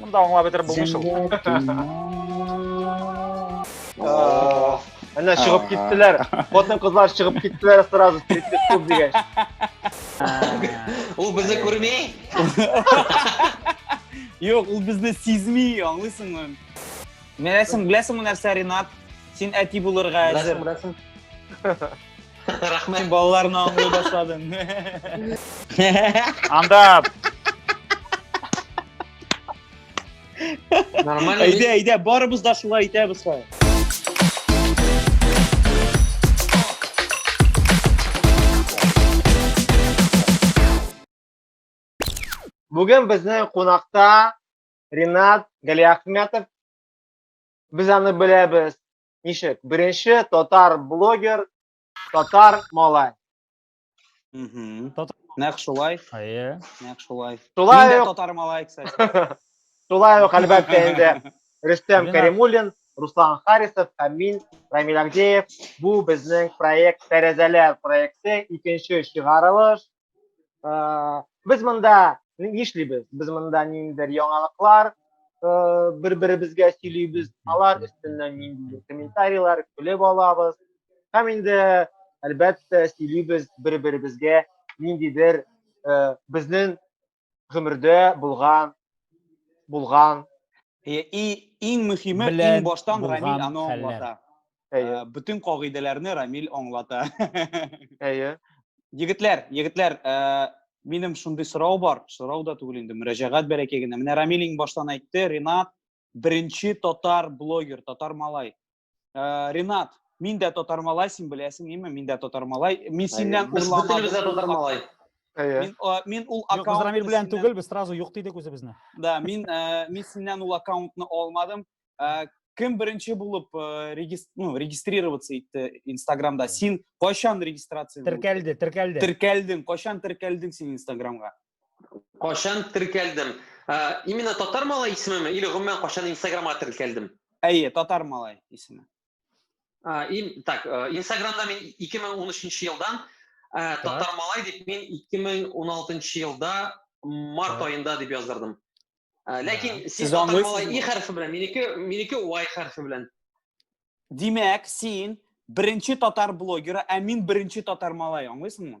Мында аңлап бетереп булмый шул. Әнә чыгып киттеләр. Хатын кызлар чыгып киттеләр сразу стриптиз клуб дигәч. Ул безне күрми? Юк, ул безне сизми, аңлыйсыңмы? Менә син беләсеңме нәрсә, Ринат? Син әти булырга әзер. Беләсең, беләсең. Рәхмәт. Балаларны аңлый башладың. Анда Нормально. Әйдә, әйдә, барыбыз да шулай итәбез хәзер. Бүген безнең кунакта Ринат Галиахметов. Без аны беләбез Ничек? Беренче татар блогер, татар малай. Мгм. Татар- Нәкъ шулай, Әйе. нәкъ шулай. Шулай Мин дә ук, татар малай, кстати. шулай ук, әлбәттә, инде Рөстәм Ренат. Кәримуллин, Руслан Харисов һәм мин, Рамил Агдеев. Бу безнең проект Тәрәзәләр проекты, икенче чыгарылыш. ә, без монда нишлибез без монда ниндидер яңалыклар бер беребезгә сөйлибез алар өстеннән ниндидер комментарийлар көлеп алабыз һәм инде әлбәттә сөйлибез бер беребезгә ниндидер безнең гомердә булган булган и иң мөһиме иң баштан Рамил аны аңлата. Әйе. Бөтен кагыйдәләрне Рамил аңлата. Әйе. Егетләр, егетләр, минем шундый сорау бар, сорау да түгел инде, мөрәҗәгать бәләкәй генә. Менә Рамил иң баштан әйтте, Ринат беренче татар блогер, татар малай. Э, Ренат, мин дә татар малай, син беләсең, име? Мин дә татар малай. Мин синнән урламадым. Без телебездә татар малай. Мин, э, мин ул аккаунт... Рамир белән түгел, без сразу юк дидек үзебезне. Да, мин, э, мин синнән ул аккаунтны алмадым. Кем беренче булып ну, регистрироваться итте Инстаграмда? Син кайчан регистрация Теркәлде, теркәлде. Теркәлдең, кайчан теркәлдең син Инстаграмга? Кашан теркәлдем. Ә, именно татар малай исемеме или гомумән кашан инстаграмга теркәлдем? Әйе, татар малай исеме. Ә, ин, так, ә, инстаграмда мин 2013 елдан ә, татар малай дип мин 2016 елда март Так. аенда дип яздырдым. Ә, ләкин сез Сез татар аңлыйсызмы? малай и хәрфе белән, минеке минеке y хәрфе белән. Димәк, син беренче татар блогеры, ә мин беренче татар малай, аңлыйсыңмы?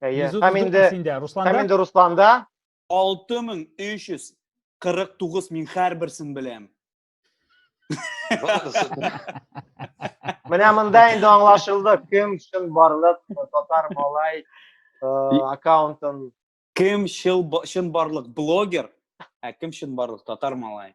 Әйе. Һәм инде Һәм инде Русланда 6349 мин һәрберсен беләм. Менә монда инде аңлашылды, кем чын барлык татар малай э, аккаунтын кем чын барлык блогер, ә кем чын барлык татар малай.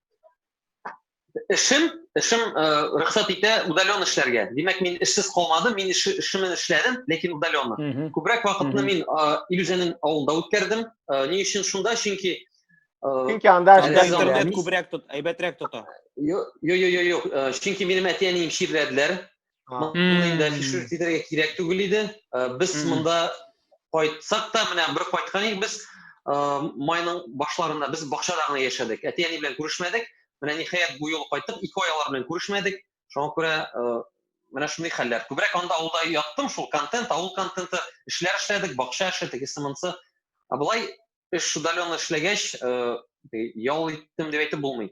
эшем эшем э, рөхсәт итә удален эшләргә димәк мин эшсез калмадым мин эш, эшемне эшләдем ләкин удаленно mm -hmm. күбрәк вакытны мин э, илүзәнең авылда үткәрдем э, ни өчен шунда чөнки чөнки анда интернет күбрәк тот әйбәтрәк тота юк юк юк юк чөнки минем әти әнием чирләделәр Моны инде фишер тидерергә кирәк түгел иде. Без монда кайтсак та, менә бер кайткан идек без майның башларында без бакчада гына яшәдек. Әти-әни белән күрешмәдек. Менә ниһаять бу юл кайттык, ике ай алар белән күрешмәдек. Шуңа күрә менә шундый хәлләр. Күбрәк анда авылда яттым, шул контент, авыл контенты, эшләр эшләдек, бакча эше, тегесе монсы. Ә болай эш удаленно эшләгәч, ял иттем дип әйтеп булмый.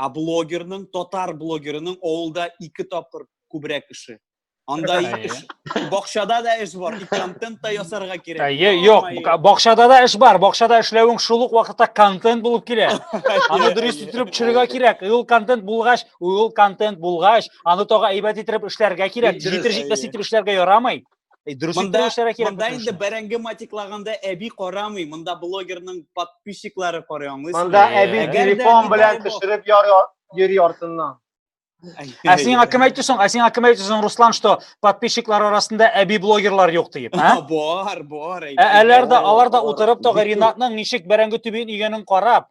Ә блогерның, татар блогерының авылда ике тапкыр күбрәк эше. Анда эш, бакчада да эш бар, контент та ясарга кирәк. Әйе, юк, бакчада да эш бар, бакчада эшләвең шул ук вакытта контент булып килә. Аны дөрес иттереп төшерергә кирәк. Ул контент булгач, ул контент булгач, аны тагы әйбәт иттереп эшләргә кирәк. Җитер җитмәс итеп эшләргә ярамый. Э, дөрес монда, кирәк монда инде бәрәңге матиклаганда әби карамый монда блогерның подписчиклары карый аңлыйсың монда әби телефон белән төшереп йөри артыннан ә сиңа кем әйтте соң ә сиңа кем әйтте соң руслан что подписчиклар арасында әби блогерлар юк диеп ә бар бар ә алар да алар да утырып тога ринатның ничек бәрәңге төбен игәнен карап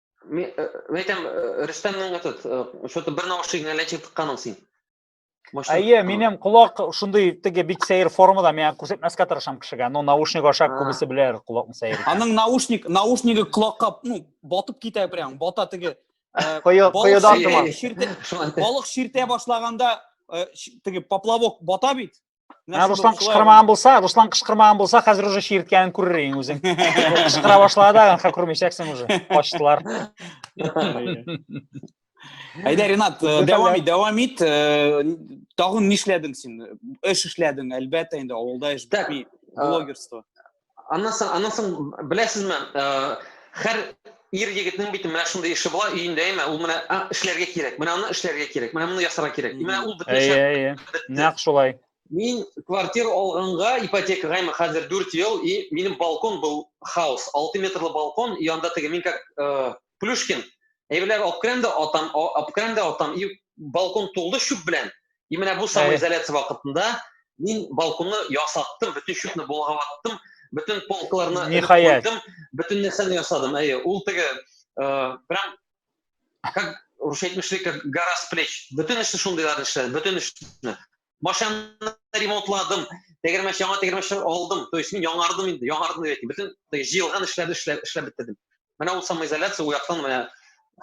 Мин э, әйтәм, э, Рөстәмнең этот, э, что-то бер наушнигыңа ләчек тыкканың син. Әйе, минем колак шундый теге бик сәер формада, миңа күрсәтмәскә тырышам кешегә. Ну, наушник аша күбесе беләр колакны сәер. Аның наушник, наушнигы колакка, ну, батып китә прям, бата теге. Коедан туман. Балык ширтә башлаганда теге поплавок бата бит. Ә Руслан кышкырмаган булса, Руслан кышкырмаган булса, хәзер уже чирткәнен күрер идең үзең. Кышкыра башлады да, хә күрмәячәксең уже. Качтылар. Әйдә, Ренат, э, дәвам ит, дәвам ит. Э, тагын нишләдең син? Эш эшләдең, әлбәттә инде, авылда эш бетми, блогерство. Аннан соң, аннан соң беләсезме, хәр ир егетнең бит менә шундый эше була, өендә әмә ул менә эшләргә кирәк, менә аны эшләргә кирәк, менә моны ясарга кирәк. Менә ул бөтенчә. Әйе, әйе. Нәкъ шулай. Мин квартира алганга ипотекага әмә хәзер 4 ел и минем балкон был хаос. 6 метрлы балкон, янда теге мин как Плюшкин, әйберләр алып керәм дә атам, алып керәм дә атам, и балкон тулды чүп белән. И менә бу самый изоляция вакытында мин балконны ясаттым, бөтен чүпне болгаваттым, бөтен полкаларны Нихаят. куйдым, бөтен нәрсәне ясадым. Әйе, ул теге э, прям как рушетмешли как гора с плеч. Бөтен эшне шундыйлар эшләде, бөтен эшне. машинаны ремонтладым, тегермәч яңа тегермәч алдым. То есть мин яңардым инде, яңардым дип әйтим. Бөтен җыелган эшләрне эшләп, эшләп бетердем. Менә ул самоизоляция у яктан менә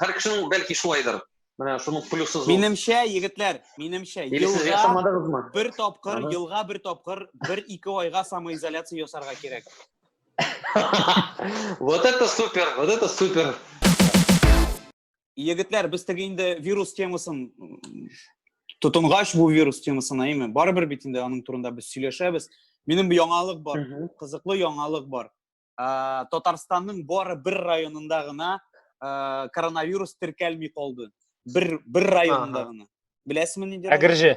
һәр кешенең бәлки шулайдыр. Менә шуның плюсы зур. Минемчә, егетләр, минемчә, елга бер тапкыр, елга бер тапкыр, бер ике айга самоизоляция ясарга кирәк. Вот это супер, вот это супер. Егетләр, без теге инде вирус темасын тотынгач бу вирус темасына, әйме, барыбер бит инде аның турында без сөйләшәбез. Минем яңалык бар, кызыклы яңалык бар. Ә, Татарстанның бары бер районында гына ә, коронавирус теркәлми калды. Бер бер районында ага. гына. Беләсезме нинди? Әгерҗе.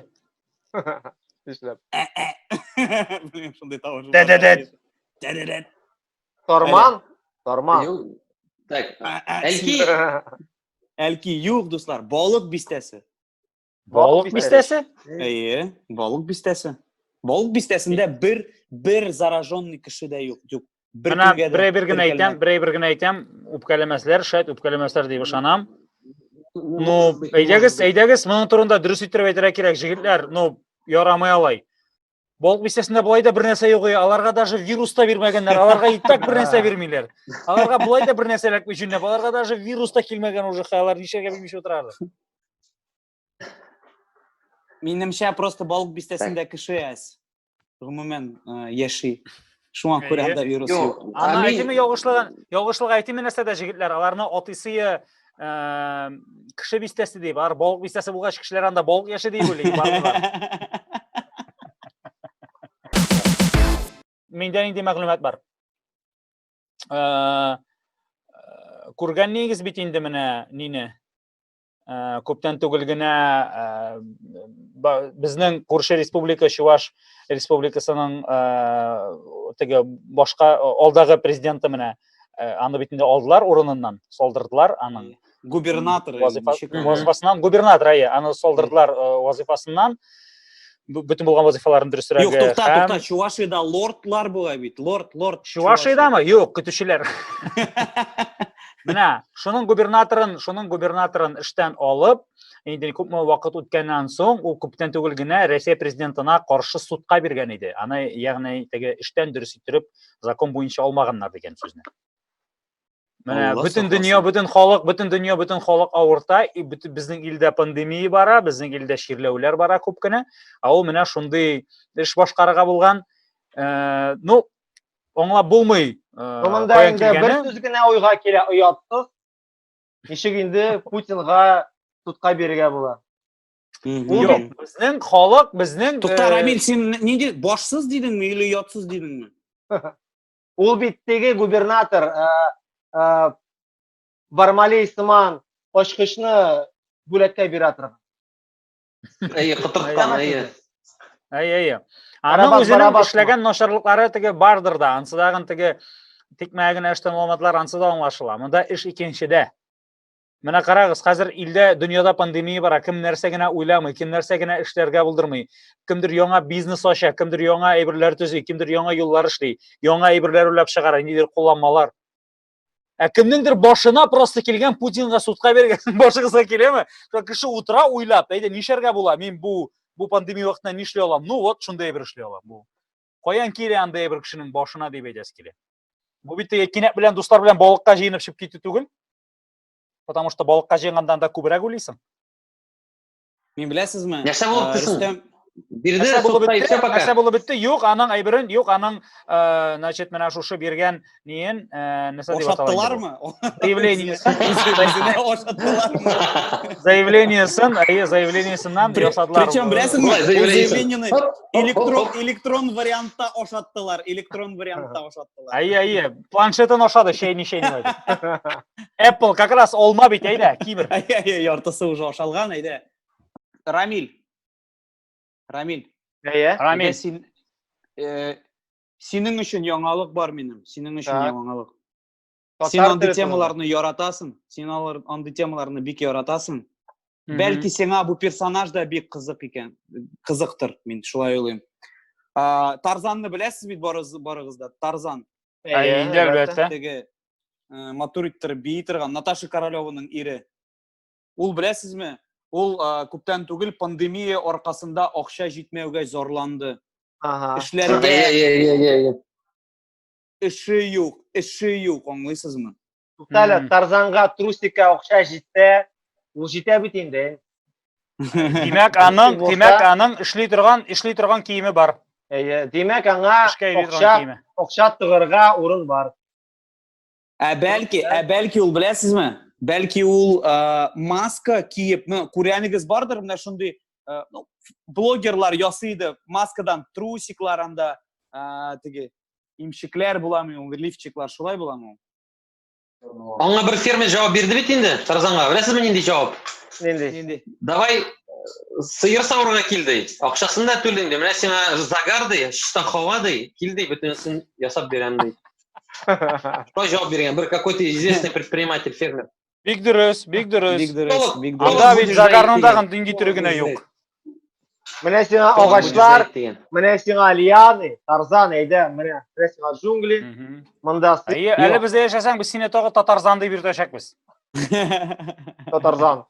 Нишләп? Ә, ә. Шундый тавыш. Дә-дә-дә. Дә-дә-дә. Торман? Торман. Юк. Так. Әлки. Әлки юк, дуслар, балык бистәсе. Балык бистәсе? Әйе, балык бистәсе. Балык бистәсендә бер бер зараженный кеше дә юк. Юк. Бер Менә көнгә дә берәй бер генә әйтәм, теркәлмәгән. берәй бер генә әйтәм, үпкәләмәсләр, шәт үпкәләмәсләр дип ышанам. Ну, әйдәгез, әйдәгез, моның турында дөрес иттереп әйтергә кирәк, җегетләр, ну, ярамый алай. Балык бистәсендә болай да бер нәрсә юк, аларга даже вирус та бирмәгәннәр, аларга и так бер нәрсә бирмиләр. Аларга болай да бер нәрсә эләкми җүнләп, аларга даже вирус та килмәгән уже, алар ничәгә белмичә утыралар. Минемчә просто балык бистәсендә кеше әз. Гомумән, яши. Шуңа күрә анда вирус юк. Ана әйтеме ялгышлыгын, ялгышлык әйтеме нәрсә дә җегетләр, аларны атысы кеше бистәсе ди, бар балык бистәсе булгач кешеләр анда балык яши дип уйлый барлар. Миндә нинди мәгълүмат бар? Күргән нигез бит инде менә нине? Э, күптән түгел генә э, безнең күрше республика чуваш республикасының э, теге башка алдагы президенты менә аны бит инде алдылар урыныннан солдырдылар аның губернатор вазифасыннан губернатор әйе аны солдырдылар вазифасыннан бөтен булган вазифаларын дөресрәге юк тукта һәм... тукта чувашида лордлар була бит лорд лорд чувашидамы юк көтүчеләр менә шуның губернаторын шуның губернаторын эштән алып инде күпме вакыт үткәннән соң ул күптән түгел генә россия президентына каршы судка биргән иде аны ягъни теге эштән дөрес иттереп закон буенча алмаганнар дигән сүзне Менә бөтен дөнья, бөтен халык, бөтен дөнья, бөтен халык авырта, и бөтен безнең илдә пандемия бара, безнең илдә чирләүләр бара күп кенә. Ә ул менә шундый эш башкарырга булган. Э, ну, аңлап булмый. Э, Монда инде бер сүз генә уйга килә, оятсыз. Ничек инде Путинга тутка бирергә була? Юк, безнең халык, безнең Тукта э, Рамил, син нинди башсыз дидеңме или ятсыз дидеңме? Ул бит теге губернатор ә, ә, Бармалей сыман ачкычны бүләккә бирә торган. Әйе, кытырткан, әйе. Әйе, әйе. Аның үзенең эшләгән начарлыклары теге бардыр да, ансы тагын теге тикмәгә генә эштән маламатлар ансы да аңлашыла. Монда эш икенчедә. Менә карагыз, хәзер илдә, дөньяда пандемия бара, кем нәрсә генә уйламый, кем нәрсә генә эшләргә булдырмый. Кемдер яңа бизнес ача, кемдер яңа әйберләр төзи, кемдер яңа юллар эшли, яңа әйберләр уйлап чыгара, нидер кулланмалар. Ә кемнеңдер башына просто килгән Путинга судка биргән башыгызга киләме? Шул кеше утыра уйлап, әйдә нишләргә була? Мин бу бу пандемия вакытында нишли алам? Ну вот, шундый бер эшли алам бу. Каян килә андый бер кешенең башына дип әйтәсе килә. Бу бит кинәт белән дуслар белән балыкка җыенып чыгып китү түгел. Потому что балыкка җыйгандан да күбрәк уйлыйсың. Мин беләсезме? Нәрсә булып э, Рөстәм Бирде нәрсә булып бетте? Нәрсә булып бетте? Юк, аның әйберен, юк, аның, э, значит, менә шушы биргән ниен, э, нәрсә дип атала? Ошаттылармы? Заявлениесен. Ошаттылармы? Заявлениесен, әйе, заявлениесеннән ясадылар. Причем беләсезме? Заявлениене электрон электрон вариантта ошаттылар, электрон вариантта ошаттылар. Әйе, әйе. планшетын ашады шейни шейни apple как раз олма бит әйдә кибер яртысы уже ашалган әйдә рамиль рамиль әйе рамиль син э, синең өчен яңалык бар минем синең өчен яңалык син андый темаларны яратасың син алар андый темаларны бик яратасың бәлки сиңа бу персонаж да бик кызык икән кызыктыр мин шулай уйлыйм тарзанны беләсез бит барыгыз да тарзан инде әлбәттә теге матур иттереп бии торган наташа королеваның ире ул беләсезме ул күптән түгел пандемия аркасында акча җитмәүгә зарланды эшләргә эше юк эше юк аңлыйсызмы Туктале, Тарзанга трусикка акча җитсә, ул җитә бит инде. Димәк, аның, димәк, аның эшли торган, эшли торган киеме бар. Әйе, димәк, аңа акча, акча тыгырга урын бар. Ә бәлки, ә бәлки ул беләсезме? Бәлки ул маска киеп, ну, күрәнегез бардыр, менә шундый ну, блогерлар ясый иде маскадан трусиклар анда теге имчекләр буламы ул лифчиклар шулай буламы аңа бер фермер җавап бирде бит инде тарзанга беләсезме нинди җавап нинди нинди давай сыер савырга кил ди акчасын да түлим ди менә сиңа загар ди чиста һава ди кил ди бөтенесен ясап бирәм ди шулай җавап биргән бер какой то известный предприниматель фермер Бик дөрес, бик дөрес. Бик дөрес, бик дөрес. Анда бит Загарның тагын дин китерү генә юк. Менә сиңа агачлар, менә сиңа лианы, тарзан әйдә, менә менә сиңа джунгли. Монда Әйе, әле бездә яшәсәң, без сине тагы татарзан дип йөртәчәкбез. Татарзан.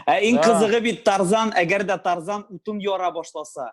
Ә иң кызыгы бит Тарзан, әгәр дә Тарзан утын яра башласа.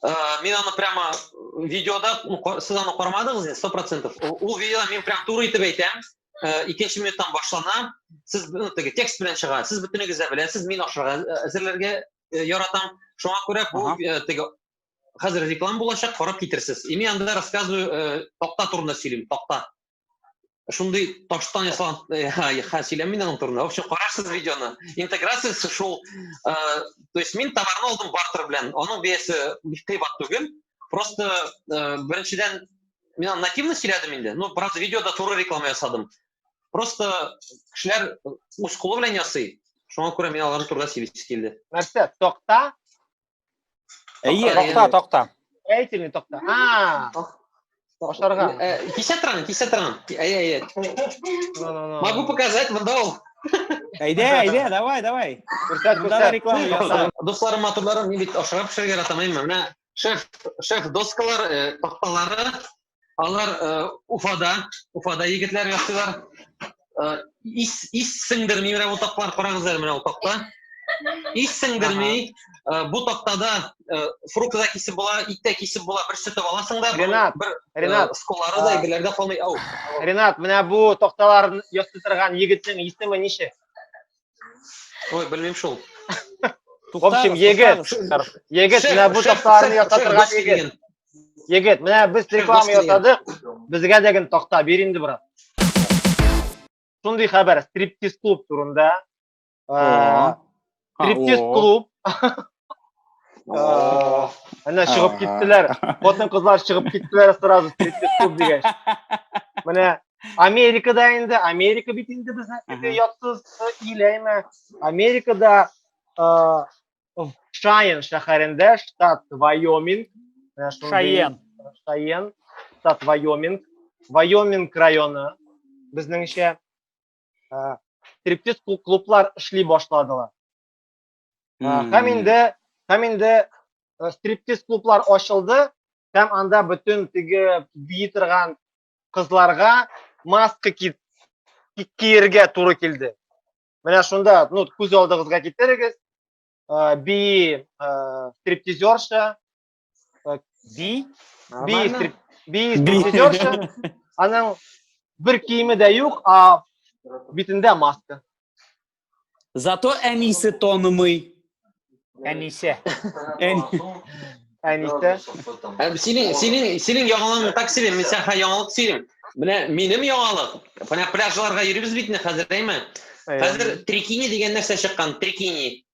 Ә, мин аны прямо видеода, сез аны кармадыгыз инде, 100%. Ул видеода мин прям туры итеп әйтәм. Ә, икенче минуттан башлана. Сез ну, теге текст белән чыга. Сез бөтенегез дә беләсез, мин ашарга ә, әзерләргә ә, яратам. Шуңа күрә бу ә, теге хәзер реклама булачак, карап китерсез. И мин анда рассказываю ә, такта турында сөйлим, такта. шундый таштан ясалган хә сөйләмим инде аның турында в общем карарсыз видеоны интеграциясе шул э, то есть мин товарны алдым бартер белән аның бәясе кыйбат түгел просто э, беренчедән мин аны нативно сөйләдем инде ну правда видеода туры реклама ясадым просто кешеләр үз кулы белән ясый шуңа күрә мин алар турында сөйлисе килде нәрсә такта Әйе, токта, токта. Әйтер ни токта. А! Ашарга. Кисә торам, кисә торам. Әйе, әйе. Могу показать, монда ул. Әйдә, әйдә, давай, давай. Күрсәт, күрсәт. реклама яса. Дусларым, матурларым, мин бит ашарга пешерергә яратам, әйме. Менә шеф, шеф доскалар, такталары, Алар э, Уфада, Уфада егетләр ясыйлар. Э, ис ис сеңдерми менә бу такталар карагыз әле менә бу такта. Ис сеңдерми. Э, бу тактада фрукт та кисеп була, ит тә кисеп була, бер сөтеп аласың да. Ренат, бер, Ренат, сколары да егетләрдә калмый. Ау. Ренат, менә бу такталар ясый торган егетнең исеме ничек? Ой, белмим шул. В общем, егет, егет, менә бу такталарны ясап торган егет. Егет, менә без реклама ясадык. Безгә дә генә такта бир инде, брат. Шундый хәбәр, стриптиз клуб турында. Стриптиз клуб. Әнә чыгып киттеләр. Хатын-кызлар чыгып киттеләр сразу стриптиз клуб дигәч. Менә Америкада инде, Америка бит инде безнең ятсыз ил әйме. Америкада Шайен шәһәрендә, штат Вайоминг. Шайен. Шайен, штат Вайоминг. Вайоминг районы безнеңчә стриптиз клублар эшли башладылар. Һәм инде, һәм инде стриптиз клублар ачылды, һәм анда бөтен теге бии торган кызларга маска киергә туры килде. Менә шунда, ну, күз алдыгызга китерегез, бии стриптизерша, Так, би. Би, Нормально? стрип... би стриптизерша. Аның бер киеме дә юк, а битендә маска. Зато әнисе тонымый. Әнисе. Ән- Әнисе. Ә, Синең, синең, синең яңалыгың так себе, мин сәхә яңалык сөйлим. Менә минем яңалык. Менә пляжларга йөрибез бит инде хәзер, әйме? Хәзер трикини дигән нәрсә чыккан, трикини.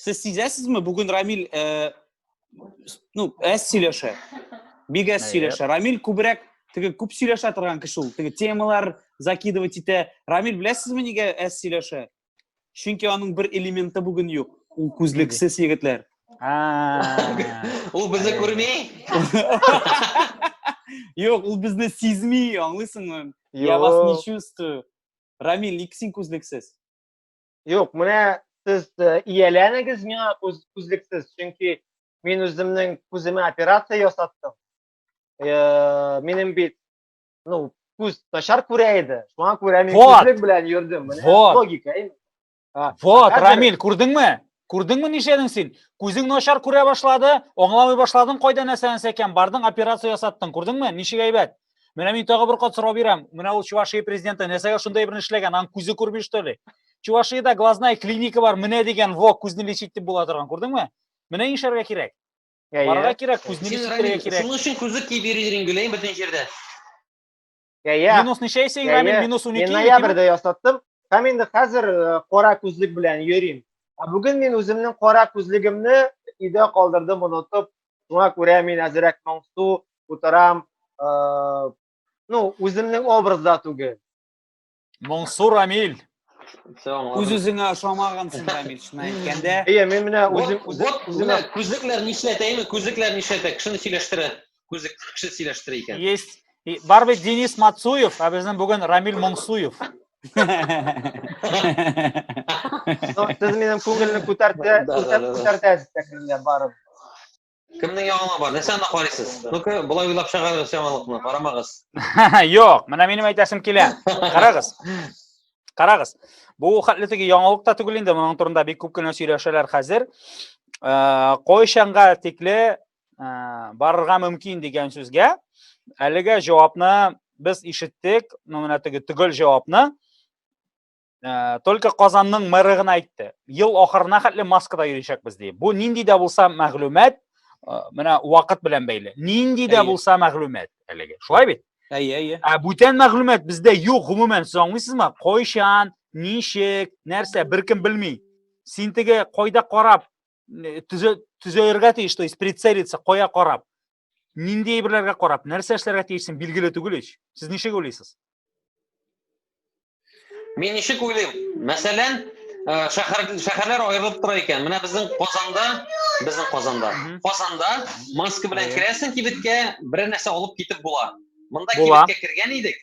Сез сизәсезме, бүген Рамил э, ну, әз сөйләшә. Бик әз сөйләшә. Рамил күбрәк теге күп сөйләшә торган кеше ул. Теге темалар закидывать итә. Рамил беләсезме нигә әз сөйләшә? Чөнки аның бер элементы бүген юк. Ул күзлексез егетләр. Ул безне күрми? Юк, ул безне сизми, аңлыйсыңмы? Я вас не чувствую. Рамил, ник син күзлексез? Юк, менә сез э, ияләнегез миңа күз, күзлексез, чөнки мин үземнең күземә операция ясаттым. Э, минем бит, ну, күз начар күрә иде. Шуңа күрә мин вот. күзлек белән йөрдем. Менә вот. логика. Вот, Хәзер... Рамил, күрдеңме? Күрдеңме нишәдең син? Күзең начар күрә башлады, аңламый башладың, кайда нәрсәне сәкән, бардың операция ясаттың, күрдеңме? Ничек әйбәт? Менә мин тагы бер кат сорау бирәм. Менә ул Чувашия президенты нәрсәгә шунда әйберне эшләгән? Аның күзе күрми что ли? Чувашиядә глазная клиника бар, менә дигән, во, күзне лечить дип була торган, күрдеңме? Менә нишләргә кирәк. Барырга кирәк, күзне лечить кирәк. Шуның өчен күзлек киеп йөридер инде, гөләйем бөтен җирдә. Я, я. Минус ничә исә Рамил? Минус 12. Мин ноябрьдә ясаттым. Һәм инде хәзер э, кара күзлек белән йөрим. Ә бүген мин үземнең кара күзлегемне өйдә калдырдым, онытып, Шуңа күрә мин әзерәк моңсу утырам. Э, ну, үземнең образда түгел. Моңсу Рамил. Үз-үзеңә ошамагансың, Рамил, шуны әйткәндә. Әйе, мин менә үзем вот үземә күзлекләр нишләтәйме? Күзлекләр нишләтә? Кешене сөйләштерә. Күзлек кеше сөйләштерә икән. Есть. Бар бит Денис Мацуев, ә безнең бүген Рамил Моңсуев. Сез минем күңелне күтәртә, күтәртәсез тәкриргә барып. Кемнең яңалыгы бар? Нәрсә анда карыйсыз? Ну-ка, болай уйлап чыгарыгыз яңалыкны, карамагыз. Юк, менә минем әйтәсем килә. Карагыз. Карагыз. Бу хәтле теге яңалык та түгел инде, моның турында бик күп кенә сөйләшәләр хәзер. Э, Кайчанга тикле барырга мөмкин дигән сүзгә әлегә җавапны без ишеттек ну менә теге төгәл җавапны ә, только казанның мэры гына әйтте ел ахырына хәтле маскада йөрячәкбез ди бу нинди дә булса мәгълүмат ә, менә вакыт белән бәйле нинди дә булса мәгълүмат әлеге шулай бит әйе әйе ә бүтән мәгълүмат бездә юк гомумән сез аңлыйсызмы кайчан ничек нәрсә беркем белми син теге кайда карап төзәергә тиеш то есть прицелиться кая карап нинди әйберләргә карап нәрсә эшләргә тиешсең билгеле түгел ич сез ничек уйлыйсыз мин ничек уйлыйм мәсәлән э, шәһәр шәһәрләр аерылып тора икән менә безнең казанда безнең казанда казанда маска белән керәсең кибеткә берәр нәрсә алып китеп була монда кибеткә кергән идек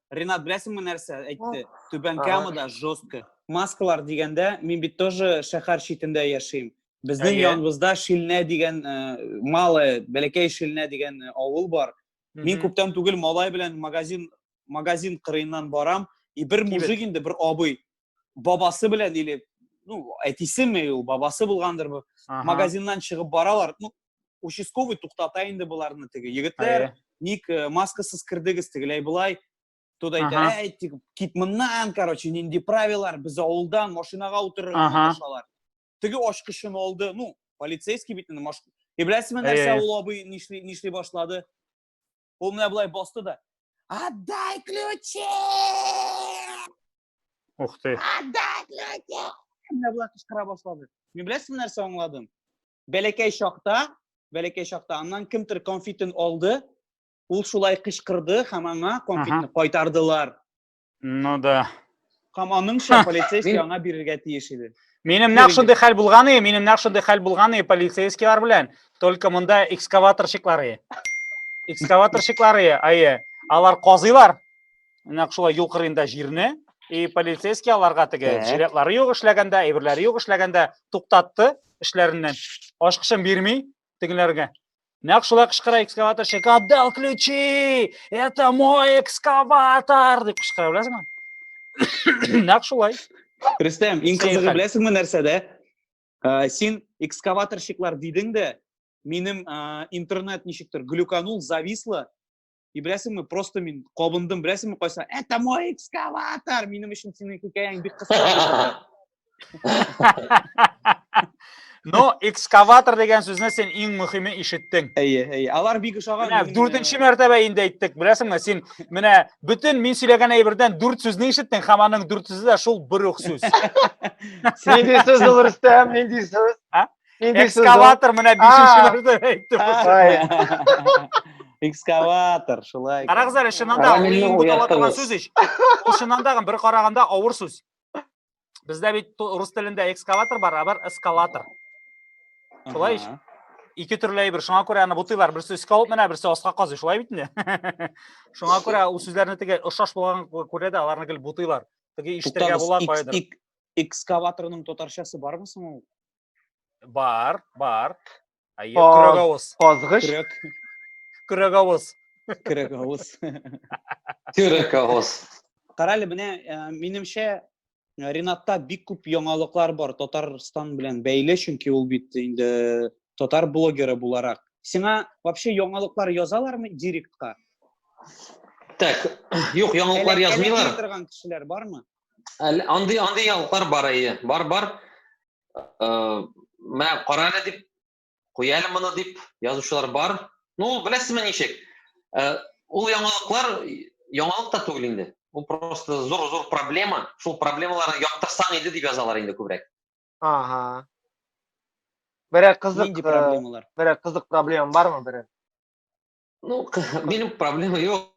Ренат, беләсеңме нәрсә әйтте? Түбән Камада жестко. Маскалар дигәндә, мин бит тоже шәһәр читендә яшим. Безнең яныбызда Шилнә дигән э, малая, бәләкәй Шилнә дигән э, авыл бар. Мин күптән түгел малай белән магазин магазин кырыеннан барам, и бер мужик инде, бер абый, бабасы белән или, ну, әтисеме ул, бабасы булгандыр, магазиннан чыгып баралар, ну, участковый туктата инде боларны теге егетләр ник э, маскасыз кердегез тегеләй болай тот әйтә әй тик кит моннан короче нинди правилар без авылдан машинага утырырга кушалар теге ачкычын алды ну полицейский бит инде и беләсезме нәрсә ул абый нишли нишли башлады ул менә болай басты да отдай ключи ух ты отдай ключи менә болай кычкыра башлады мен беләсезме нәрсә аңладым бәләкәй чакта, бәләкәй чакта аннан кемдер конфетын алды, ул шулай кычкырды һәм аңа конфетны кайтардылар. Ну да. Һәм аныңча полицейский аңа бирергә тиеш иде. Минем нәкъ шундый хәл булган иде, минем нәкъ шундый хәл булган иде полицейскийлар белән, только монда экскаваторщиклар иде. Экскаваторщиклар иде, әйе. Алар казыйлар. Нәкъ шулай юл кырыенда җирне, и полицейский аларга теге жилетлары юк эшләгәндә, әйберләре юк эшләгәндә туктатты, эшләреннән. Ашкычын бирми тегеләргә. Нәкъ шулай кычкыра экскаваторщик, отдал ключи! Это мой экскаватор! дип кычкыра, беләсеңме? Нәкъ шулай. Рөстәм, иң кызыгы беләсеңме нәрсәдә? Ә, син экскаваторщиклар дидең дә, минем ә, интернет ничектер глюканул, зависло, И беләсеңме, просто мин кабындым, беләсеңме, кайса, это мой экскаватор! Минем өчен синең хикәяң бик кыска. Но экскаватор дигән сүзне син иң мөһиме ишеттең. Әйе, әйе. Алар бик ошаган. Менә дүртенче мәртәбә инде әйттек. Беләсеңме, син менә бөтен мин сөйләгән әйбердән дүрт сүзне ишеттең, һәм аның дүрт сүзе дә шул бер үк сүз. Нинди сүз ул Рөстәм, нинди сүз? экскаватор мына бишенче мәртәбә әйтте экскаватор шулай карагыз әле чыннан да мин бутала торган сүз ич ул чыннан да бер караганда авыр сүз бездә бит рус телендә экскаватор бар а бар эскалатор шулай ич ике төрле әйбер шуңа күрә аны бутыйлар берсе өскә алып менә берсе аска казый шулай бит инде шуңа күрә ул сүзләрне теге ошаш булган күрә дә аларны гел бутыйлар теге ишетергә була каядыр экскаваторның татарчасы бармы соң ул Бар, бар. Әйе, Каз- көрәгавыз. Казгыч. Көрәк. Көрәгавыз. Көрәк авыз. Көрәк авыз. Кара әле менә э, минемчә э, Ринатта бик күп яңалыклар бар Татарстан белән бәйле, чөнки ул бит инде татар блогеры буларак. Сиңа вообще яңалыклар язалармы директка? Так, юк, яңалыклар Әләк- язмыйлар. әләкли торган кешеләр бармы? Әле андый андый яңалыклар бар әйе. Бар бар. Э, Мә кара әле дип куя әле моны дип язучылар бар. Ну, ул беләсезме ничек? Э, Ул яңалыклар яңалык та түгел инде. Ул просто зур-зур проблема. Шул проблемаларны яктырсаң иде дип язалар инде күбрәк. Ага. Берәр кызык, Нинди э, проблемалар? берәр кызык проблема бармы берәр? Ну, минем проблема юк.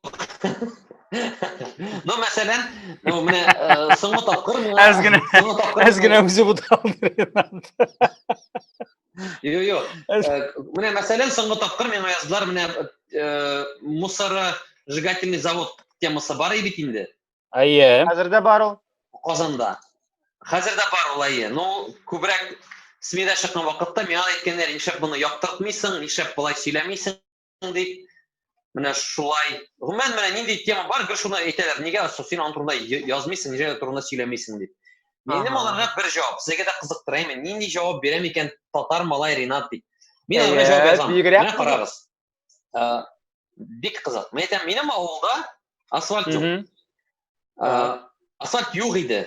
Ну, мәсәлән, ну, менә э, соңгы тапкыр миңа... Әз генә, соңгы тапкыр... Әз генә үзе Йо, йо. Э, менә мәсәлән, соңгы тапкыр миңа яздылар, менә э, мусора сжигательный завод темасы бар бит инде. Әйе. Хәзер дә бар ул. Казанда. Хәзер дә бар ул, әйе. Ну, күбрәк СМИда чыккан вакытта миңа әйткәннәр, нишләп моны яктыртмыйсың, нишләп болай сөйләмисең дип. Менә шулай. Гомумән, менә нинди тема бар, гел шуны әйтәләр. Нигә син аның турында язмыйсың, нигә турында сөйләмисең дип. Минем аларга бер җавап, сезгә дә кызыктыра имин. Нинди җавап бирәм икән татар малай Ринат дип. Мин аларга җавап язам. Менә карагыз. ә, бик кызык мен әйтәм минем авылда асфальт юк ә, асфальт юк иде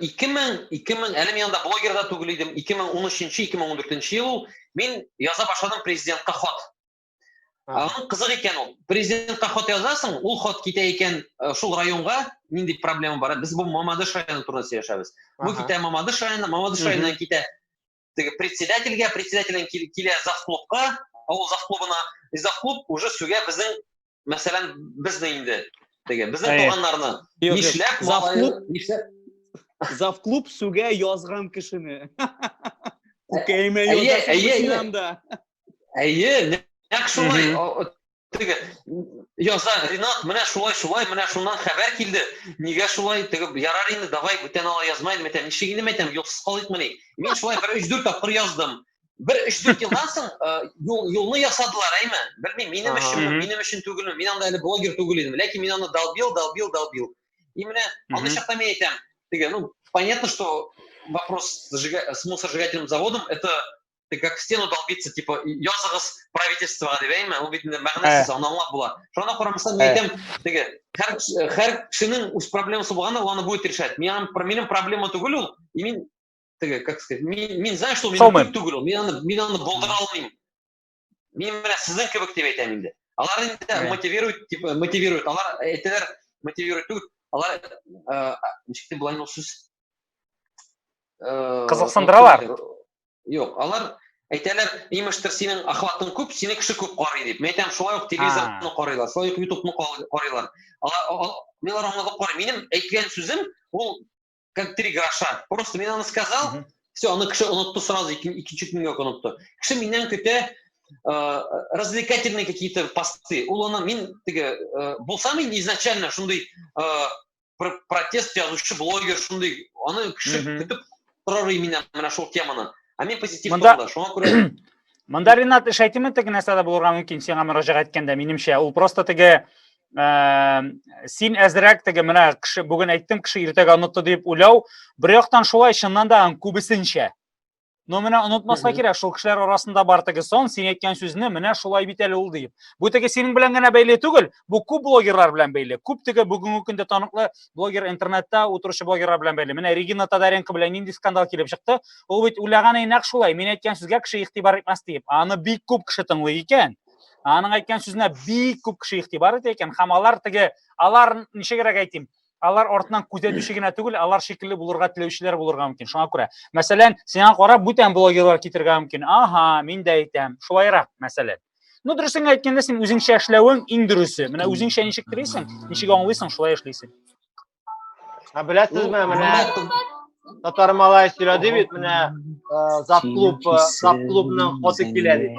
ике мең ике мең әле мин анда блогер да түгел идем ике мең он өченче ике мең он дүртенче ел ул мин яза башладым президентка хат аның кызык икән ул президентка хат язасың ул хат китә икән шул районга нинди проблема бар без бу мамадыш районы турында сөйләшәбез бу китә мамадыш районы мамадыш районына китә теге председательгә, председателен килә завклубка, авыл завклубына, и завклуб уже сүгә безнең, мәсәлән, безне инде, теге, безнең туганнарны. Нишләп завклуб? Нишләп? Завклуб сүгә язган кешене. Күкәймә язган кешене. Әйе, нәк шулай. теге яза ринат менә шулай шулай менә шуннан хәбәр килде нигә шулай теге ярар инде давай бүтән ала язмайын микән ничек инде мәйтәм юлсыз калыйкмыни мин шулай бер өч дүрт тапкыр яздым бер өч дүрт елдан соң юл юлны ясадылар әйме белмим минем өчен минем өчен түгелме мин анда әле блогер түгел идем ләкин мин аны долбил долбил долбил и менә андый чакта мин әйтәм теге ну понятно что вопрос с мусоросжигательным заводом это ты как в стену долбиться, типа, языгыз правительствоға деп әйме, ул бит мәгънәсез, ә. аны аңлап була. Шуна карамастан мин ә. әйтәм, теге һәр һәр кешенең үз проблемасы булганда, ул аны будет решать. Мин минем проблема түгел ул, и мин теге, как сказать, мин мин знаю, что минем түгел ул. Мин аны мин аны булдыра алмыйм. Мин менә сезнең кебек дип әйтәм инде. Алар инде ә. мотивирует, типа, мотивирует. Алар әйтәләр, мотивирует түгел. Алар э, ничек дип булган ул сүз? Э, Кызыксындыралар. Юк, алар әйтәләр, имештер синең охватың күп, сине кеше күп карый дип. Мин әйтәм, шулай ук телевизорны карыйлар, шулай ук ютубны карыйлар. Алар милар аңа да карый. Минем әйткән сүзем ул как три гроша. Просто мин аны сказал, все, аны кеше онытты сразу, икенче көнгә онытты. Кеше миннән көтә э, развлекательные какие-то посты. Ул аны мин теге э, булса мин изначально шундый э, протест язучы блогер шундый аны кеше көтеп торыр именно менә шул теманы ә мен позитив монда шуңа күрә монда ринат эш әйтеме теге нәрсә дә булырга мөмкин сиңа мөрәҗәгать иткәндә минемчә ул просто теге син әзрәк теге менә кеше бүген әйттем кеше иртәгә онытты дип уйлау бер яктан шулай чыннан да күбесенчә Но менә онытмаска кирәк, шул кешеләр арасында бар теге сон, син әйткән сүзне менә шулай бит әле ул диеп. Бу теге синең белән генә бәйле түгел, бу күп блогерлар белән бәйле. Күп теге бүгенге көндә таныклы блогер интернетта утыручы блогерлар белән бәйле. Менә Регина Тадаренко белән нинди скандал килеп чыкты. Ул бит уйлаганы нәкъ шулай, мин әйткән сүзгә кеше игътибар итмәс диеп. Аны бик күп кеше тыңлый икән. Аның әйткән сүзенә бик күп кеше игътибар итә икән. Һәм алар теге, алар ничегрәк әйтим, алар артынан күзәтүче генә түгел, алар шикелле булырга теләүчеләр булырга мөмкин. Шуңа күрә, мәсәлән, сиңа карап бүтән блогерлар китергә мөмкин. Аһа, мин дә әйтәм. Шулайрак, мәсәлән. Ну, дөресен әйткәндә, син үзеңчә эшләвең иң дөресе. Менә үзеңчә ничек телисең, ничек аңлыйсың, шулай эшлисең. Ә беләсезме, ну, менә ну, татар малай сөйләде бит, менә э, зап клуб, э, зап клубның хоты килә дип.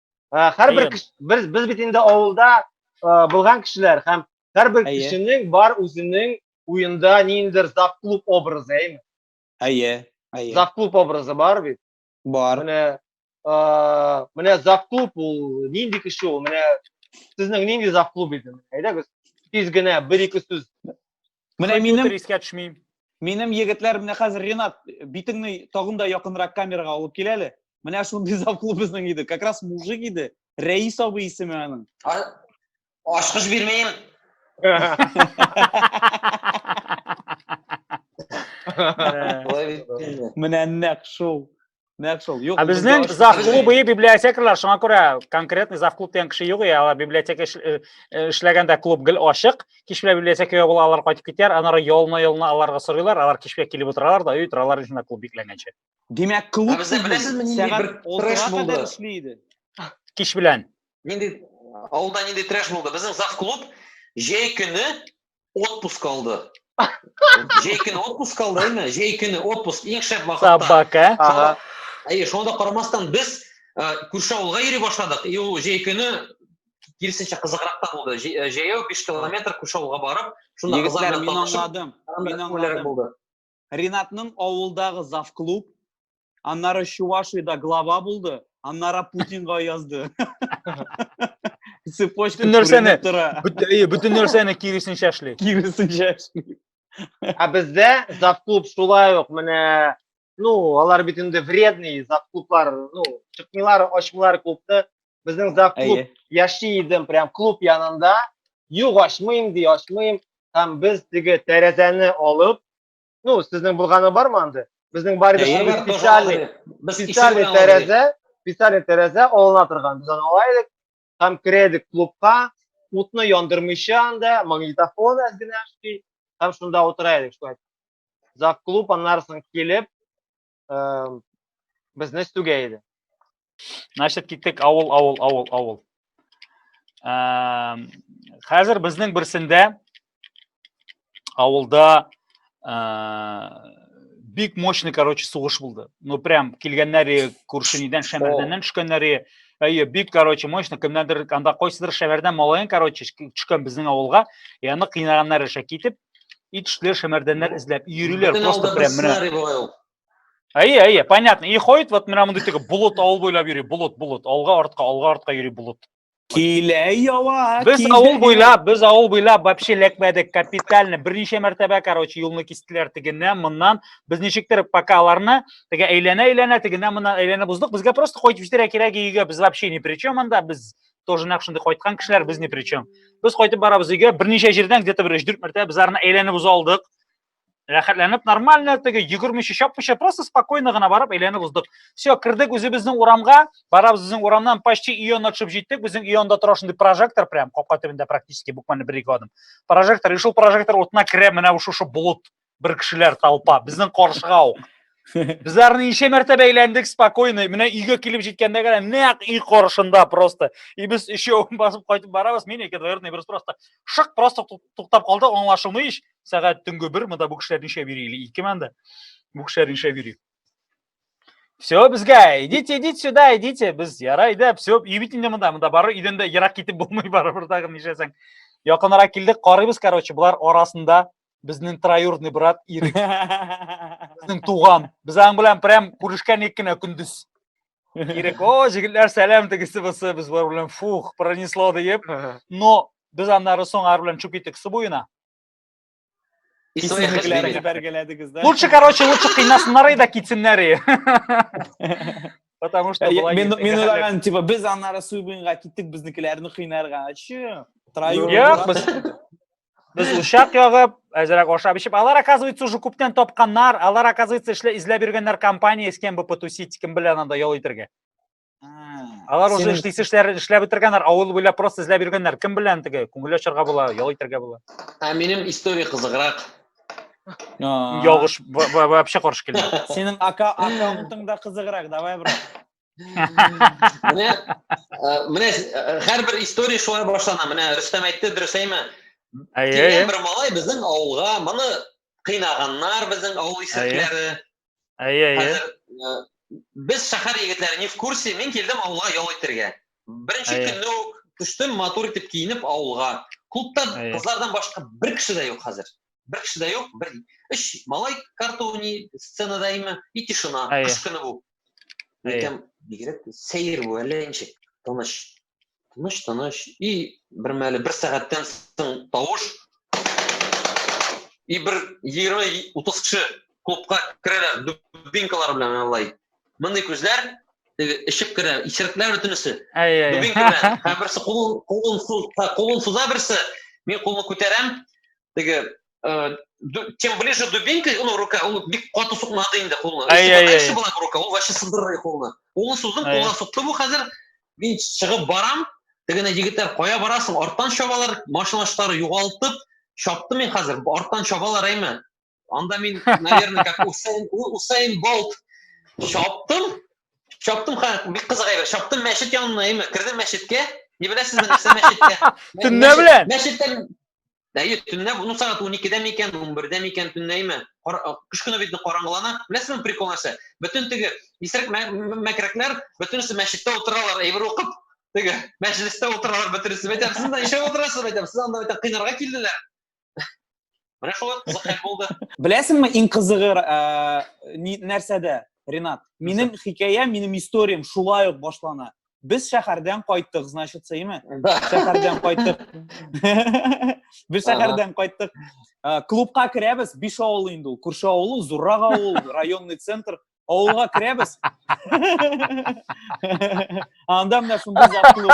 һәрбер кеше без без бит инде авылда булган кешеләр һәм һәрбер кешенең бар үзенең уенда ниндидер завклуб образы әйме әйе әйе завклуб образы бар бит бар менә менә завклуб ул нинди кеше ул менә сезнең нинди завклуб иде әйдәгез тиз генә бер ике сүз Менә минем искә төшми. Минем егетләр менә хәзер Ренат битеңне тагын да якынрак камерага алып кил әле. Менә шундый завклуб безнең иде. Как раз мужик иде. Рәис абый исеме аның. Ашкыш бирмим. Менә нәкъ шул. Нәкъ шул. Юк. Ә безнең зав клубы и библиотекарьлар, шуңа күрә конкретный зав клуб дигән кеше юк, алар библиотека э, э, эшләгәндә клуб гел ачык. Кич белән библиотекага була, алар кайтып китәр, аннары ялына-ялына аларга сорыйлар, алар кичкә килеп утыралар да, үй торалар исенә клуб бикләнгәнче. Димәк, клуб ә сезне беләсезме, нинди бер трэш булды? Эшли иде. Кич белән. Нинди авылда нинди трэш булды? Безнең зав клуб җәй көне отпуск алды. Җәй көне отпуск алды, әйме? Җәй көне отпуск иң шәп вакытта. Собака. Э? Ага. Әйе, шуңа да карамастан без э, күрше авылга йөри башладык. И ул җәй көне киресенчә кызыграк та булды. Җәй- э, Җәяү 5 километр күрше авылга барып, шунда Егетләр, мин аңладым. Мин аңладым. булды. Ринатның авылдагы завклуб, аннары Чувашиядә глава булды, аннары Путинга язды. Цепочка Бөтен нәрсәне, күренеп тора. бөт- әйе, бөтен нәрсәне киресенчә эшли. Киресенчә эшли. Ә бездә завклуб шулай ук менә ну, алар бит инде вредный завклублар, ну, чыкмыйлар, ачмыйлар клубты. Безнең зак клуб Әйе. яши идем, прям клуб янында. Юк, ачмыйм ди, ачмыйм. Һәм без теге тәрәзәне алып, ну, сезнең булганы бармы анда? Безнең бар иде Әйе. шундый Алар тоже специальный, алды. Без икесе специальный белән алдык. тәрәзә, специальный тәрәзә алына торган. Без аны ала идек һәм керә идек клубка, утны яндырмыйча анда, магнитофон әз генә эшли, һәм шунда утыра идек. Шулай. Зак клуб, аннары соң килеп, э, безне стүгә иде. Значит, киттек авыл, авыл, авыл, авыл. Э, хәзер безнең берсендә авылда э, бик мощный короче сугыш булды ну прям килгәннәре күршенидән шәмәрдәннән төшкәннәре әйе бик короче мощный кемнәндер анда кайсыдыр шәмәрдән малаен короче төшкән безнең авылга и аны кыйнаганнар эшә китеп И төшләр, шәмәрдәннәр ну, эзләп йөриләр просто прям менә. Әйе, әйе, понятно. И ходит вот менә мондый теге болот авыл буйлап йөри, болот, болот, алга артка, алга артка йөри болот. Килә ява. Без авыл буйлап, без авыл буйлап вообще ләкмәдек капитально. Берничә мәртәбә, короче, юлны кистеләр тегеннән, моннан. Без ничектер пока аларны теге әйләнә-әйләнә тегеннән моннан әйләнә буздык. Безгә просто кайтып җитәргә кирәк өйгә. Без вообще ни при чем анда. Без тоже нәкъ шундый кайткан кешеләр без ни причем без кайтып барабыз өйгә берничә җирдән где то бер өч дүрт мәртәбә без арны әйләнеп уза алдык рәхәтләнеп нормально теге йөгермичә чапмыйча просто спокойно гына барып әйләнеп уздык все кердек үзебезнең урамга барабыз безнең урамнан почти өй янына төшеп җиттек безнең өй янында тора шундый прожектор прям капка төбендә практически буквально бер ике адым прожектор и шул прожектор утына керә менә шушы болыт бер кешеләр толпа безнең каршыга ук Безләр ничә мәртәбә әйләндек спокойно. Менә өйгә килеп җиткәндә генә нәкъ өй каршында просто. И без өчәү басып кайтып барабыз. Мин ике дверный берс просто шык просто туктап калды. Аңлашылмый ич. Сәгать төнге 1 монда бу кешеләр ничә йөри или 2 монда. Бу кешеләр ничә йөри. Все, безгә, идите, идите сюда, идите. Без ярай да, все, өй бит инде монда, монда бары өйдән дә ерак китеп булмый барыбер тагын нишләсәң. Якынрак килдек, карыйбыз, короче, болар арасында Безнең троюродный брат Ирек. Безнең туган. Без аның белән прям күрешкән ик кенә көндез. Ирек, о, җегетләр, сәлам тегесе бусы, без бар белән фух, пронесло диеп. Но без аннары соң ар белән чүп итек су буена. И своих Исемлекләрен ошибок. бәргәләдегез, да? Лучше, короче, лучше кыйнасыннар и да китсеннәр и. Потому что Ә, былай Мин китсәң, мин хәлләр- уйлаган, типа, без аннары Суйбуенга киттек, безнекеләрне кыйнарга. Чы? Троюродный Юк, брат. без Без учак ягып, әзерәк ашап ичеп, алар оказывается уже күптән тапканнар, алар оказывается эшлә изләп йөргәннәр компания с кем бы потусить, кем белән анда ял итергә. Алар уже эшлисе эшләр эшләп бетергәннәр, авыл буйлап просто эзләп йөргәннәр. Кем белән теге күңел ачарга була, ял итәргә була. Ә минем история кызыграк. Ягыш вообще каршы килә. Синең ака аккаунтың да кызыграк, давай, брат. менә менә һәрбер история шулай башлана менә рөстәм әйтте дөрес әйме килгән бер малай безнең авылга моны кыйнаганнар безнең авыл исәкләре әйе әйе без шәһәр егетләре не в курсе мин килдем авылга ял итәргә беренче көнне үк төштем матур итеп киенеп авылга клубта кызлардан башка бер кеше дә юк хәзер бер кеше дә юк бер өч малай картуни сценада имя и тишина кыш көне бу Икән, бигрәк сәер бу, әллә ничек, тыныч. Тыныч, тыныч. И бер мәле бер сәгатьтән соң тавыш. И бер 20-30 кеше клубка керәләр, дубинкалар белән алай. Мондый күзләр теге ишек керә, исерекләр бөтенесе. Дубинка белән. Һәм берсе кулын кулын суза, кулын суза берсе. Мин кулны күтәрәм. Теге э, чем ближе дубинка, ну, рука, ул бик каты сукмады инде кулны. Ай, ай, ай. Эше была рука, ул вообще сындырды кулны. Кулны суздым, кулга сукты бу хәзер. Мин чыгып барам. Тегене егетләр, кая барасың? Арттан чабалар, машиначлары югалтып, чапты мин хәзер. Арттан чабалар әйме. Анда мин, наверное, как Усейн, Усейн Болт чаптым. Чаптым, бик кызык әйбер. Чаптым мәчет янына әйме. Кердем мәчеткә. Не беләсезме, нәрсә мәчеткә? Төнлә белән. Мәчеттән Әйе, төнлә, ну сәгать 12-дә микән, 11-дә микән төнләйме? Кыш көне бит караңгылана. Беләсезме прикол нәрсә? Бөтен теге исерек мәкрәкләр бөтенесе мәчеттә утыралар, әйбер укып, теге мәҗлестә утыралар бөтенесе. Бәйтәм, сез дә ишәп утырасыз, бәйтәм, сез анда бәйтәм кыйнарга килделәр. Менә шулай кызык хәл булды. Беләсеңме, иң кызыгы нәрсәдә, Ренат? Минем хикәя, минем историям шулай ук башлана. Без шәһәрдән кайттык, значит, сәйме? Шәһәрдән кайттык. Без шәһәрдән кайттык. Клубка керәбез, биш авыл инде ул. Күрше авылы, зуррак авыл, районный центр. Авылга керәбез. Анда менә шундый зат клуб.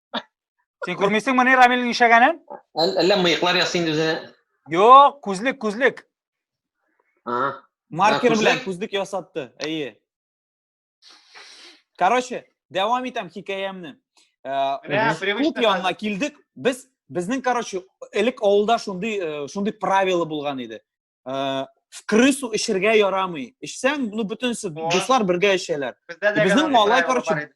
Сен күрмисең моны Рамилнең ишәгәнен? Әллә мыеклар ясы инде үзенә. Юк, күзлек, күзлек. Ага. Маркер белән күзлек ясатты. Әйе. Короче, дәвам итәм хикәямне. Кут э, янына килдек. Без безнең, короче, элек авылда шундый э, шундый правило булган иде. Э, в крысу эчергә ярамый. Эчсәң, ну бөтенсе дуслар бергә эчәләр. Безнең малай, короче,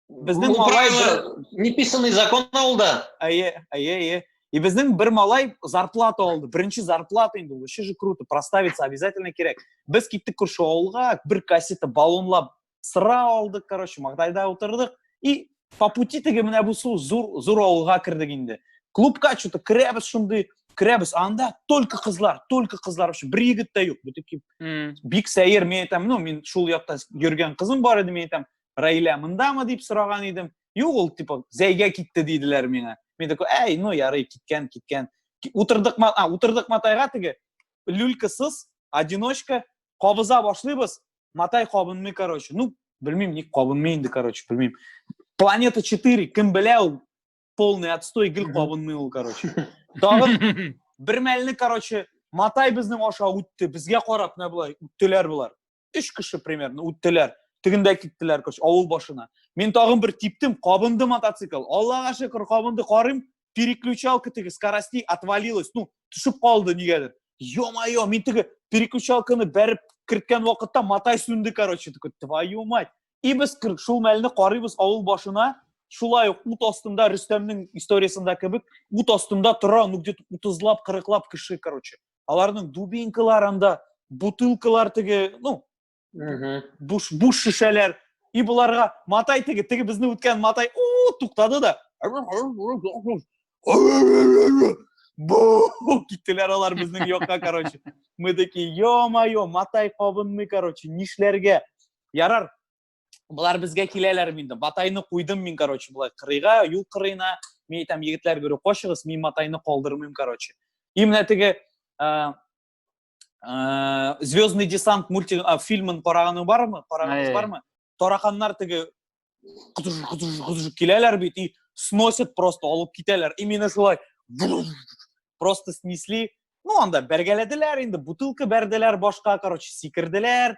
безнең Бу малай правило, бер- неписанный закон ул да. әйе әйе әйе и безнең бер малай зарплата алды беренче зарплата инде ул вообще же круто проставиться обязательно кирәк без киттек күрше авылга бер кассета баллонлап сыра алдык короче маңдайда утырдык и по пути теге менә бу су зур зур авылга кердек инде клубка че то керәбез шундый керәбез анда только кызлар только кызлар вообще бер егет тә юк бөтен М. бик сәер мен әйтәм ну мин шул якта йөргән кызым бар иде мен әйтәм Раилә мындамы дип сораган идем. Юк, ул типа зәйгә китте диделәр миңа. Мин такой, әй, ну ярый, киткән, киткән. Утырдык, а, утырдык матайга теге люлькасыз, одиночка, кабыза башлыйбыз. Матай кабынмый, короче. Ну, белмим, ник кабынмый инде, короче, белмим. Планета 4, кем белә ул? Полный отстой, гел кабынмый ул, короче. Тагын бер мәлне, короче, Матай безнең аша үтте, безгә карап, менә булай, үттеләр булар. өч кеше примерно үттеләр тегендә киттеләр короче авыл башына мин тагын бер типтем кабынды мотоцикл аллага шөкер кабынды карыйм переключалка теге скоростей отвалилась ну төшеп калды нигәдер е мое мин теге переключалканы бәреп керткән вакытта матай сүнде короче такой твою мать и без шул мәлне карыйбыз авыл башына шулай ук ут астында рөстәмнең историясында кебек ут астында тора ну где то утызлап кырыклап кеше короче аларның дубинкаларында бутылкалар теге ну буш буш шешәләр и боларга матай теге теге безне үткән матай у туктады да киттеләр алар безнең якка короче мы такие е мое матай кабынмый короче нишләргә ярар Болар безгә киләләр инде. Матайны куйдым мин, короче, болай кырыйга, юл кырыена. Мин әйтәм, егетләр берү кочыгыз, мин матайны калдырмыйм, короче. И менә теге Звездный десант мультик фильмын караганың бармы? Караганың бармы? Тараканнар теге киләләр бит и сносят просто, алып китәләр. Именно шулай просто снесли. Ну, анда бәргәләделәр инде, бутылка бәрделәр башка, короче, сикерделәр.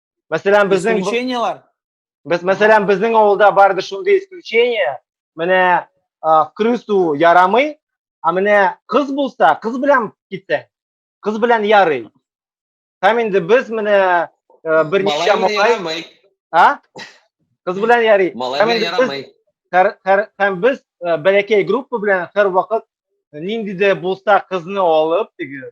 Мәсәлән, безнең исключениелар. Без мәсәлән, безнең авылда бар иде шундый исключение. Менә крысу ярамый, а менә кыз булса, кыз белән китсә, кыз белән ярый. Һәм инде без менә берничә малай А? Кыз белән ярый. Малай белән ярамый. Һәм без бәләкәй группа белән һәрвакыт нинди дә булса кызны алып, теге,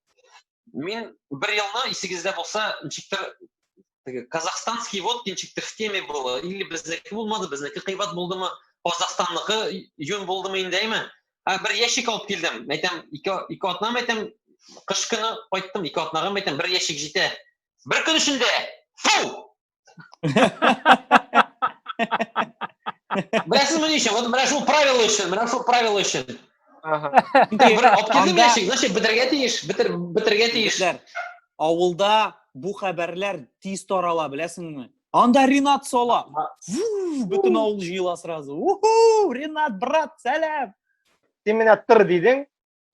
Мин бер елны исегездә булса, ничектер теге казахстанский вот ничектер в теме было, или безнеке булмады, безнеке кыйбат булдымы, Казахстанныкы юн булдымы инде әйме? Ә бер ящик алып килдем. Әйтәм, ике ике атнам әйтәм, кыш көне кайттым, ике атнагым әйтәм, бер ящик җитә. Бер көн эчендә фу! Беләсез мені еще, вот менә шул правило өчен, менә шул правило өчен. Аптырдым яшик, значит, бетерге тиеш, бетер, бетерге тиеш. Авылда бу хәбәрләр тиз тарала, беләсеңме? Анда Ренат сола. Бөтен авыл җыела сразу. Уху, Ренат, брат, сәлам. Син менә тыр дидең.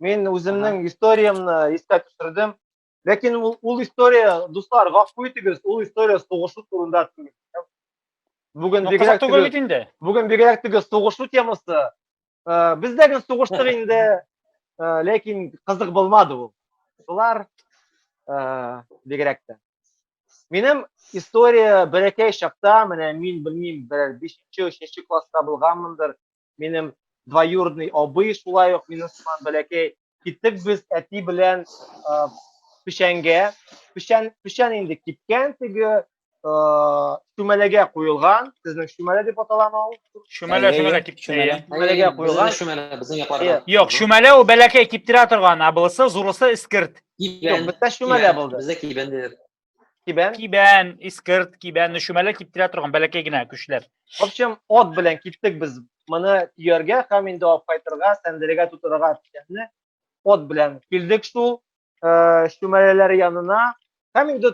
Мин үземнең историямне искә төшердем. Ләкин ул, ул история, дуслар, гафу итегез, ул история сугышу турында түгел. Бүген бигрәк түгел бит инде. Бүген бигрәк түгел сугышу темасы. Э, без дә гел сугыштык инде, э, ләкин кызык булмады ул. Шулар э, бигрәк тә. Минем история бәләкәй чакта, менә мин белмим, берәр 5-нче, 3-нче класста булганмындыр, минем двоюродный абый шулай ук минем сыман бәләкәй киттек без әти белән ә, печәнгә печән печән инде кипкән теге ә, чүмәләгә куелган сезнең чүмәлә дип аталама ул Чүмәлә, Әйе, чүмәлә кип- чүмәлә. әйе. Чүмәләгә Безнең куелган. чүмәлә, безнең якларда. Әйе. Юк, чүмәлә ул бәләкәй киптерә торган, ә булысы зурысы эскерт. Кибән. Юк, бездә чүмәлә Кибән. булды. Бездә кибән диләр. Кибән. Кибән, искырт, кибән, өшүмәле киптирә торган бәләкәй генә көчләр. В общем, от белән киттек без моны төяргә һәм инде алып кайтырга, сәндерегә тутырырга дигәнне от белән килдек шул э, шүмәләләр янына. Һәм инде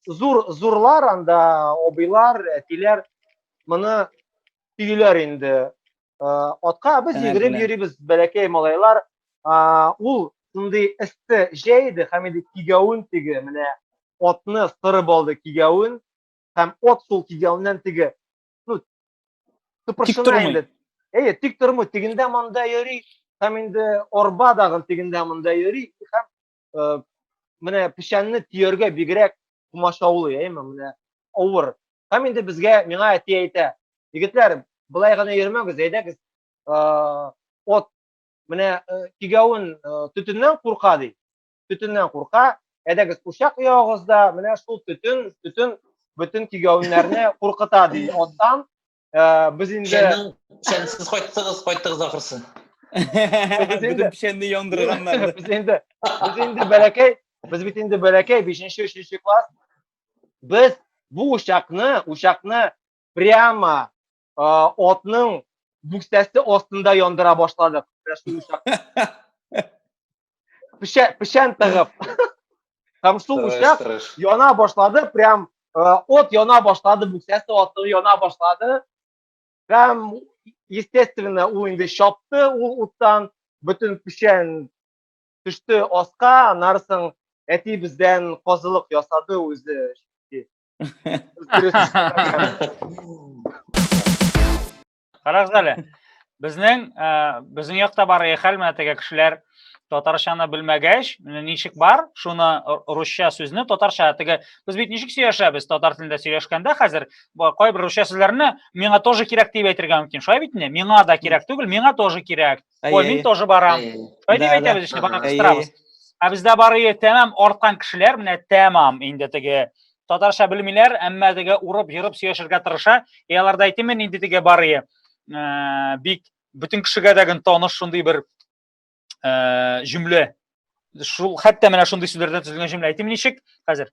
зур зурлар анда абыйлар, әтиләр моны төйләр инде Атка без йөгереп йөрибез, бәләкәй малайлар. Ул шундый эссе җәй иде, һәм инде кигәвен теге, менә атны сырып алды кигәвен, һәм ат шул кигәвеннән теге, ну, тыпыршына инде. Әйе, тик тормый, тегендә монда йөри, һәм инде арба дагы тегендә монда йөри, һәм менә печәнне төяргә бигрәк комачаулый әйме менә авыр һәм инде безгә миңа әти әйтә егетләр былай гына йөрмәгез әйдәгез от менә кигәвен төтеннән курка ди төтеннән курка әйдәгез учак ягыгыз да менә шул төтен төтен бөтен кигәвеннәрне куркыта ди оттан Ә, без инде Печәннең печәнсез кайттыгыз, кайттыгыз ахрысы. Бөтен печәнне яндырганнар. без инде без инде бәләкәй, без бит инде бәләкәй 5-нче, 3-нче класс. Без бу учакны, учакны прямо а, отның бүксәсе астында яндыра башладык. Менә шул учак. печән, печән тыгып. Һәм су үчәп, яна башлады, прям э, от яна башлады, бүксәсе аты яна башлады. Һәм, естественно, ул инде чапты ул уттан, бөтен печән төште аска, анарсың әти бездән казылык ясады үзе. Карагыз әле. Безнең э, безнең якта бар хәл менә теге кешеләр татарчаны белмәгәч, ничек бар, шуны русча сүзне татарча теге без бит ничек сөйләшәбез татар телендә сөйләшкәндә хәзер кайбер русча сүзләрне миңа тоже кирәк дип әйтергә мөмкин. Шулай бит инде? Миңа да кирәк түгел, миңа тоже кирәк. Ой, мин тоже барам. Шулай дип әйтәбез ишли, барам, кыстырабыз. Ә бездә барые тәмам арткан кешеләр, менә тәмам инде теге татарча белмиләр, әмма теге урып, йырып сөйләшергә тырыша. Е аларда әйтеме нинди теге барые? Э, бик бөтен кешегә дә гын таныш шундый бер э, җөмлә. Шул хәтта менә шундый сүзләрдән төзелгән җөмлә әйтим ничек? Хәзер.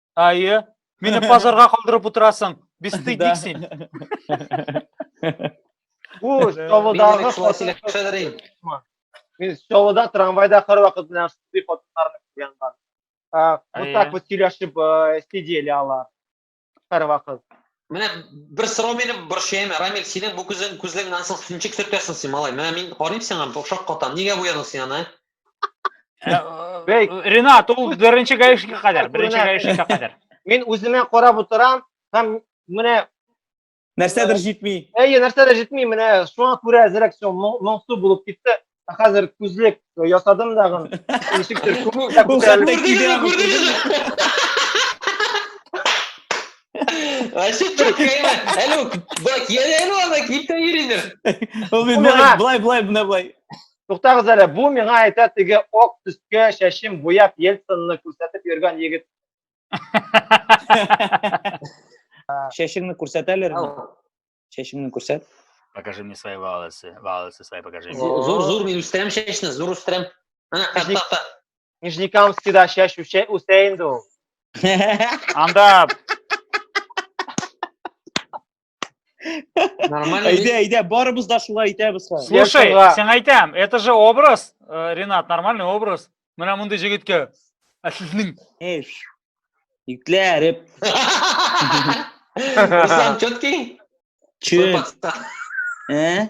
Әйе. Мине пазарга калдырып утырасың. Бестыйдик син. Бу Чаллыдагы хатын- Мин Чаллыда трамвайда һәрвакыт белән шундый хатыннарны күргән бар. Ә, Вот Әйе. так вот сөйләшеп э, сидели алар һәрвакыт. Менә бер сорау мине борчыйм. Рамил, синең бу күзең күзлегеңнән соң синчик сөртәсең син, малай. Менә мин карыйм сиңа, бу шаккатам. Нигә буядың син аны? Бәй, Ренат, ул беренче гаишникка кадәр, беренче гаишникка кадәр. Мин үземә карап утырам һәм менә нәрсәдер җитми. Әйе, нәрсәдер җитми, менә шуңа күрә әзрәк су моңсу булып китте. Хәзер күзлек ясадым дагын. Ничектер күңел дә күтәрелде. Күрдегезме, күрдегезме? Вообще чакайма. Әле бак, я әле ана килтә йөридер. Ул бит былай, былай, былай, былай. Туктагыз әле, бу миңа әйтә теге ок төскә чәчем буяп Ельцинны күрсәтеп йөргән егет. Чәчеңне күрсәт әле. Чәчеңне күрсәт. Покажи мне свои волосы. Волосы свои покажи. Зур, зур, мин үстерәм чәчне, зур үстерәм. Нижнекамскида чәч үсә инде ул. Анда Нормально. Әйдә, әйдә, барыбыз да шулай итәбез хәзер. Слушай, сиңа әйтәм, это же образ, э, Ренат, нормальный образ. Менә мондый җегеткә. Ә сезнең Эш. Итләреп. Руслан, четкий? Че? Ә?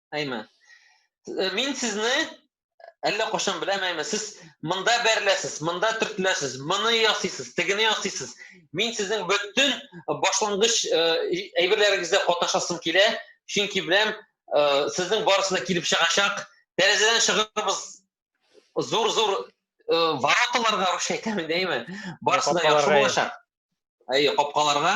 Әйме. Э, мин сезне әллә кошын беләм әйме. Сез монда бәреләсез, монда төртеләсез, моны ясыйсыз, тегене ясыйсыз. Мин сезнең бөтен башлангыч э, әйберләрегездә катнашасым килә, чөнки беләм, э, сезнең барысына килеп чыгачак. Тәрәзәдән чыгырбыз. Зур-зур вороталарга русча әйтәме дәйме? Барысына яхшы булачак. Әйе, капкаларга.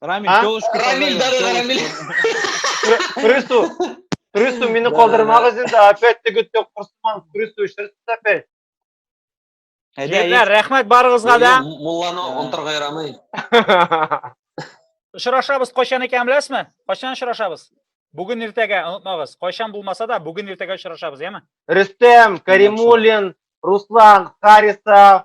Рамиль, А? телочку Рамиль, да, да, Рамиль. Күресу, күресу, мине калдырмагыз инде, опять теге тек курсман, күресу, шерсіз опять. Егетләр, рәхмәт барыгызга да. Мулланы онтырга ярамый. Очрашабыз кайчан икән беләсезме? Кайчан очрашабыз? Бүген иртәгә онытмагыз. Кайчан булмаса да, бүген иртәгә очрашабыз, яме? Рөстәм, Каримуллин, Руслан, Харисов,